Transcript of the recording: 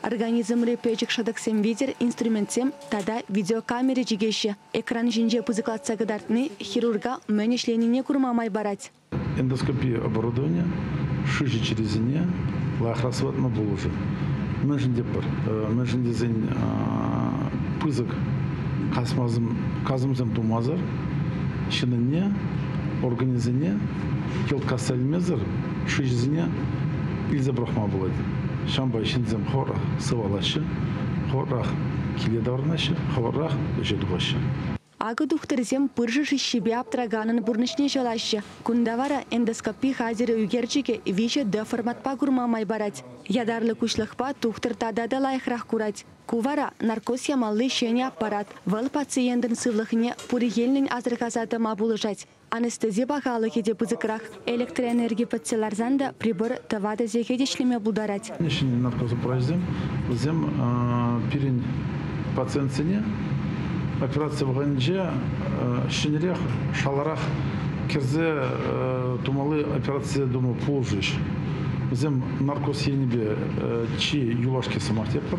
Организмри пӗчӗк шӑтӑксем витӗр инструментсем тата видеокамера чикеҫҫӗ. Экран ҫинче пысӑклатса кӑтартни хирурга мӗн ӗҫленине курма май парать. Эндоскопи оборудованийӗ шыҫӑ чирӗсене лайӑхрах сыватма пулӑшӗ. Мӗншӗн тепӗр? Мӗншӗн тесен пысӑк касӑмсем тумасӑр ҫынӑнне, органӗсене йӑлт касса илмесӗр шыҫӑсене илсе пӑрахма пулать. Ҫавӑнпа ҫынсем хор сывалаҫҫӗ, хоррах киле таврӑнаҫҫӗ, хӑвӑррах ӗҫе тухаҫҫӗ. Акӑ тухтӑрсем пыршӑ шыҫҫипе аптӑраканӑн пурнӑҫне ҫӑлаҫҫӗ. Кунта вара эндоскопи хатӗрӗ ӳкерчӗкӗ виҫӗ D-форматпа курма май парать. Ятарлӑ куҫлӑхпа тухтӑр тата та лайӑхрах курать. Ку вара, наркоз ямалли ҫӗнӗ аппарат. Вӑл пациентӑн сывлӑхне пурӗ енлӗн асӑрхаса тӑма пулӑшать. Анестези пахалӑхӗ те пысӑкрах. Электроэнерги пӗтсе ларсан та прибор тӑватӑ сехет ӗҫлеме пултарать. Ҫӗнӗ наркозаправочсем вӗсем пирӗн пациентсене операци вӑхӑтӗнче ҫӗнӗрех, шаларах кӗрсе тумалли операцие тума пулӑшӗҫ. Вӗсем наркоз енӗпе чи юлашки сӑмах тетпӗр.